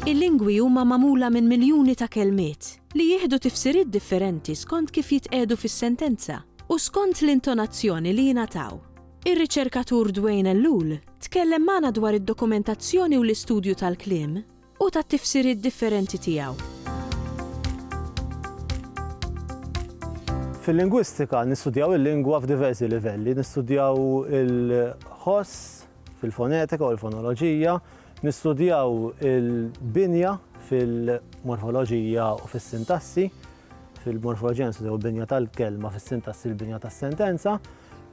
Il-lingwi huma magħmula minn miljuni ta' kelmiet, li jieħdu tifsiriet differenti skont kif jitqiegħdu fis-sentenza u skont l-intonazzjoni li jingħataw. Ir-riċerkatur Dwayne Ellul tkellem magħna dwar id-dokumentazzjoni u l-istudju tal-kliem u tat-tifsiriet differenti tiegħu. Fil-lingwistika nistudjaw il-lingwa f'diversi livelli, nistudjaw il-ħoss fil-fonetika u l-fonoloġija, nistudjaw il-binja fil-morfoloġija u fis-sintassi, fil-morfoloġenesi jew binja tal-kelma fis-sintassi l-binja tas-sentenza,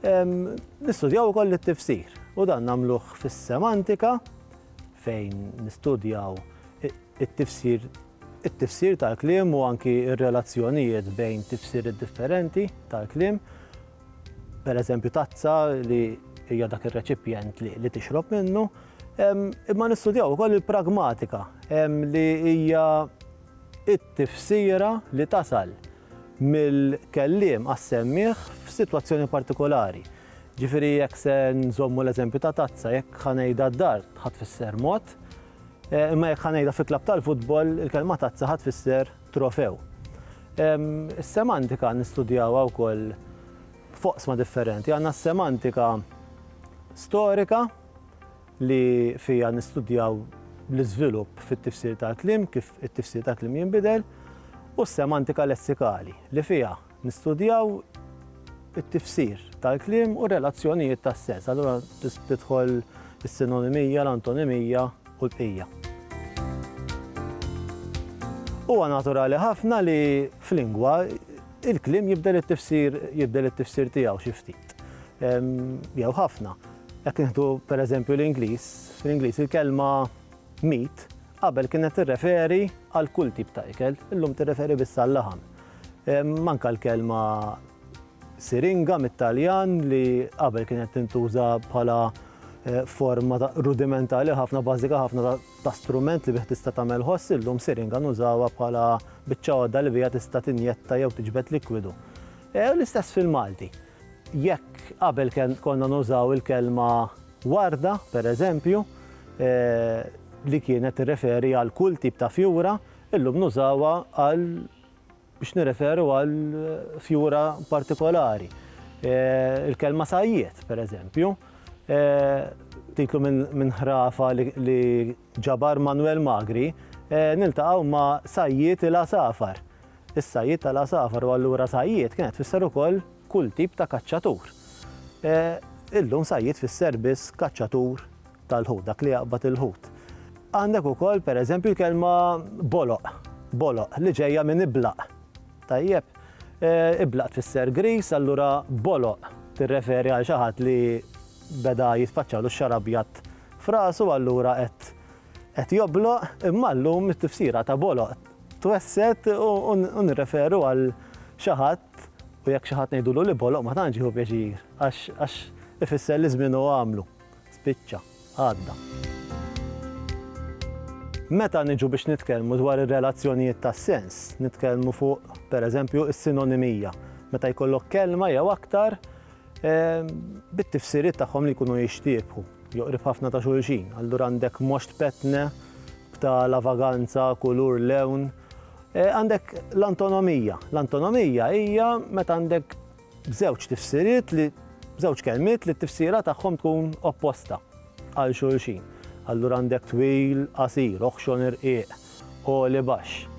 nistudjaw ukoll it-tifsir. U dan nagħmluh fis-semantika fejn nistudjaw it-tifsir it-tifsir tal-kliem u anki r-relazzjonijiet bejn tifsir differenti tal-kliem. Per eżempju tazza li hija dak ir-reċipjent li tixrob minnu. Imma nistudjaw ukoll il-pragmatika li hija it-tifsira li tasal mill-kelliem għas-semmiegħ f'sitwazzjoni partikolari. Ġifieri jekk se nżommu l-eżempju ta' tazza, jekk ħa ngħidha d-dar ħa tfisser mod, eh, imma jekk ħa ngħidha fi klabb tal-futbol il-kelma tazza ħa tfisser trofew. Is-semantika nistudjawha wkoll foqsma differenti. Għandna s-semantika storika, li fiha nistudjaw l-iżvilupp fit-tifsir tal-kliem, kif it-tifsir tal-kliem jinbidel, u s-semantika lessikali, li fiha nistudjaw it-tifsir tal-kliem u r-relazzjonijiet tas-sens. Allura tidħol is-sinonimija, l-antonimija u l-bqija. Huwa naturali ħafna li f'lingwa il-kliem jibdel it-tifsir jibdel it-tifsir tiegħu xi ftit jew ħafna. Jekk nieħdu pereżempju l-Ingliż, fl-Ingliż il-kelma meat qabel kienet tirreferi għal kull tip ta' ikel, illum tirreferi biss għal-laħam. Manka l-kelma siringa mit-Taljan li qabel kienet tintuża bħala eh, forma rudimentali ħafna bażika ħafna ta' strument li bih tista' tagħmel ħoss illum siringa nużawha bħala biċċa għodda li bija tista' tinjetta jew tiġbed likwidu. Eh, l-istess fil-Malti. Jekk qabel konna nużaw il-kelma warda, per eżempju, li kienet tirreferi għal kull tip ta' fjura, illum nużawha għal biex nirreferu għal fjura partikolari. Il-kelma sajjied, per eżempju, titlu minn ħrafa li ġabar Manwel Magri, niltaqgħu ma' sajjied il-għasafar. Is-sajjied tal-għasafar u allura sajjied kienet tfisser ukoll kull tip ta' kaċċatur. Illum sajjied tfisser biss kaċċatur tal-ħut, dak li jaqbad il-ħut. Għandek ukoll pereżempju l-kelma boloq, boloq, li ġejja minn iblaq. Tajjeb, iblaq tfisser griż, allura boloq tirreferi għal xi ħadd li beda jitfaċċalu x-xagħar abjad f'rasu allura qed jobloq, imma llum it-tifsira ta' boloq twesset u nirreferu għal xi ħadd u jekk xi ħadd ngħidulu li boloq ma tantx jieħu pjaċir għax ifisser li żmienu għamlu, spiċċa, għadda. Meta niġu biex nitkellmu dwar ir-relazzjonijiet ta' sens, nitkellmu fuq, pereżempju, is-sinonimija, meta jkollok kelma jew aktar Bit-tifsiriet tagħhom li jkunu jixtiebħu, joqrib ħafna ta' xulxin. Allura għandek moxt petne, bta' lavaganza, kulur, lewn. E, għandek l-antonomija. L-antonomija hija meta għandek żewġ tifsiriet li żewġ kelmiet li t-tifsira tagħhom tkun opposta għal xulxin. Allura għandek twil, qasir, oħxon irqiq, u li baxx.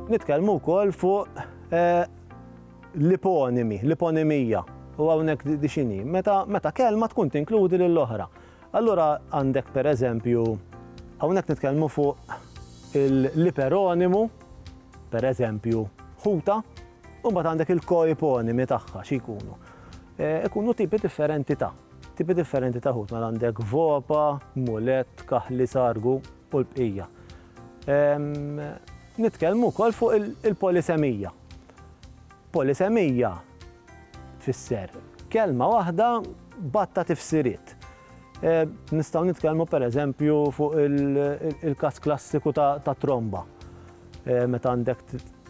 Nitkellmu wkoll fuq eh, L-iponimi, l-iponimija, u hawnhekk di x'inhi? Meta, meta kelma tkun tinkludi lill-oħra. Allura għandek pereżempju hawnhekk nitkellmu fuq l-iperonimu, pereżempju ħuta, u mbagħad għandek il-koiponimi tagħha xi jkunu. E, ikunu tipi differenti ta' tipi differenti ta' ħut, mela għandek vopa, mulet, kaħli, sargu, u l-bqija. Nitkellmu wkoll fuq il-polisemija. Polisemija tfisser kelma waħda batta tifsiriet. Nistgħu nitkellmu pereżempju fuq il-każ klassiku ta' tromba. Meta għandek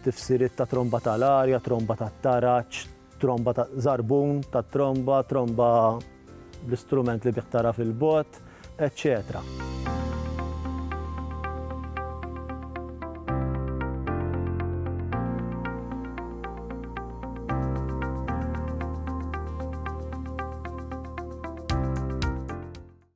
tifsiriet ta' tromba tal-arja, tromba tat-taraġ, tromba ta' żarbun tat-tromba, tromba bl-istrument li bih tara fil-bogħod, eċċetera.